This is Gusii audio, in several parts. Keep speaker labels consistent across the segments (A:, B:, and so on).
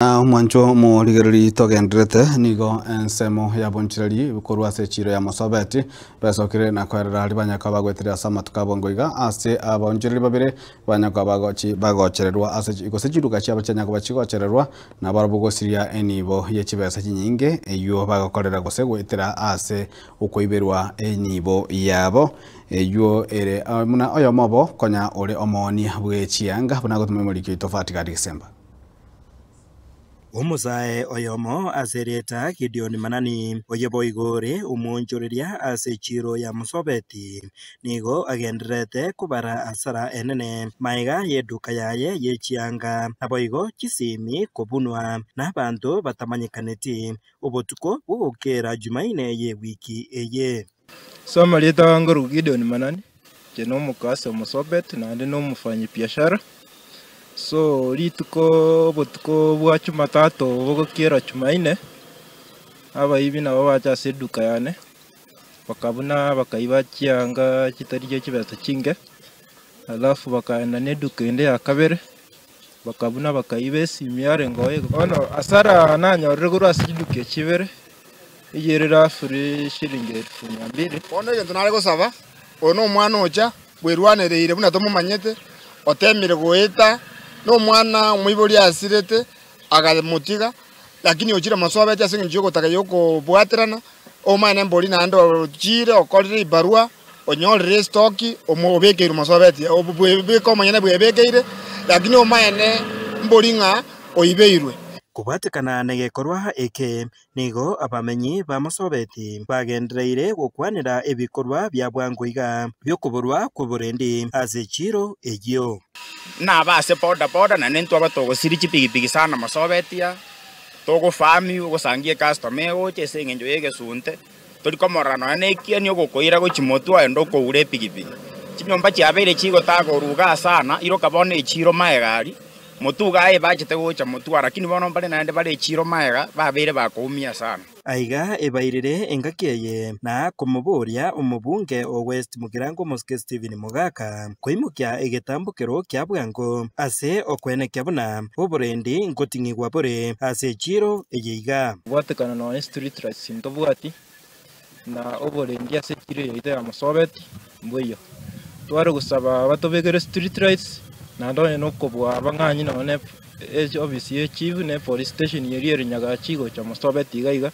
A: Na omwancho morigereri togenderete, nigo ensemo ya bonchireri korwa ase echiiro ya Mosobeti besokire na koerera aria banyakaba bagwetire ase amatuko abo ngoiga ase abaonchoreri babere banyakaba bagochi bagochererwa ase chi gose chiruga chiabo chianyakoba chigochererwa nabarabwo gosiria enibo ye chibesa chinyinge eywo bagokorera gose goetera ase okoiberwa enibo yabo eywo ere o- buna oyomo obo konya ore omoonia bwe chianga buna agotuma emorikio etofauti gati gesemba.
B: Omosae oyomo ase rieta Gideoni Manani, oye boigo ore omwonchoreria ase chiiro ya Mosobeti, nigo agendererete kobara asara enene maega y'eduka yaye ye chianga, naboigo chisemi kobunwa nabanto batamanyekaneti obotuko bw'ogokeera Jumaine ye wiki eye. Soma ritahaha
C: nkorokwa Gideon Manani, inche na omoka ase omosobet naende na omofanyi biashara. So rituko obotuko bwa chumatato bogokiera chumaine, abaibi nabo bacha ase eduka yane, bakabuna bakaiba chianga chitari chia chibesa chinke, alafu bakaenda na eduka ende ya kabere. Bakabua na bakayi b'esimi yarengeo eye. Bono asara nanyorire korwa ase chiduki echi ibere, eye ere rafuri shilingi elfu mia mbili. Bono egento nare gosaba,
D: oyo nomwana ocha bwerwanereire buna tomomanyete, otemire goeta nomwana omoibori asirete, akamotiga. Lakini ochire moso obeche ase engencho y'ogotaka y'okobwaterana, omanyane mbori naende ochiire okorire ebarua, onyorire esitoki, omo- obekeirwe moso obeche, ob- bwe- beke omonyene bwebekeire, lakini omanyane mbori ng'a oibeirwe. Kobwatekana
B: negekorwa eke, nigo abamenyi ba Masobeti bagendereire gokwanera ebikorwa bia bwango iga bi'okoborwa kw'oborendi ase chiiro eyio. Nabe ase
E: boda boda naende intwe aba togosiria chipigipigi sana mosobetia, togofaami ogosangia ecustomer egocha ase eng'encho y'egesunte, tori komorora nonya na ekieni ogokoira gochia motwe oye ndo okogura epigipigi. Chinyomba chiabeire chigotaa koruga sana, iroka bono echiro magega aria, motwe iga aye ebachete gocha motwe aria, lakini bono mbare naende bare echiro magega babeire bakoumia sana. Aiga ebairire
B: engaki eye na komoboria omobunge o West Mugirango Omosike Stephen Mogaka koimokia egetambokero kia bwango ase okwenekia buna oborendi ngoting'igwa bore ase echiro eye iga. Gwatekana nonya
C: street lights ntobwati, na oborendi ase echiro yaito yamosobeti. Mbuya. Tware gosaba batobekere street lights naende onye na okobua abang'anyi nonya na e- office ye chief na epolice station eria ere nyagachi gocha mosobeti iga iga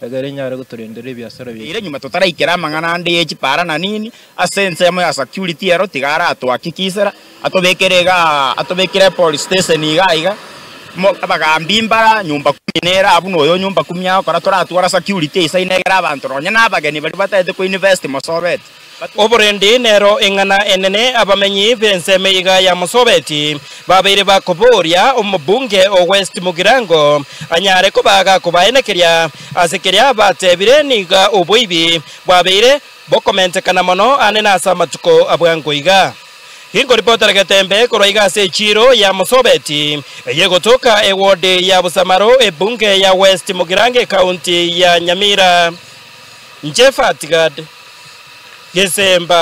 C: egere enyare gotorendera ebiasara biaito. Ere nyuma totaraikera
E: amang'ana ande ye chipara na nini, ase ensemo ya security ero tiga aratwaki kisera, Atobekere iga atobekire epolice station iga aiga mo abagaambi mbara nyumba kumi nera buna oyo nyumba kumi agokora toratwara security eisaine egere abanto nonye na abageni baria batagete ko invest mosobeti oborendi
B: nero eng'ana enene abamenyi bensemo iga ya mosobeti babeire bakoboria omobunge o west mugirango anyare koba agakobaenekeria ase keria abatebire niga oboibi bwabeire bokomentekana mono ande nase amatuko abwango iga. Inkoripotera getembe korwa iga ase echiiro ya Mosobeti eye egotoka ewodi ya Busamaro, ebunge ya West Mugirango ekaunti ya Nyamira. Inche Fatgard Gesemba.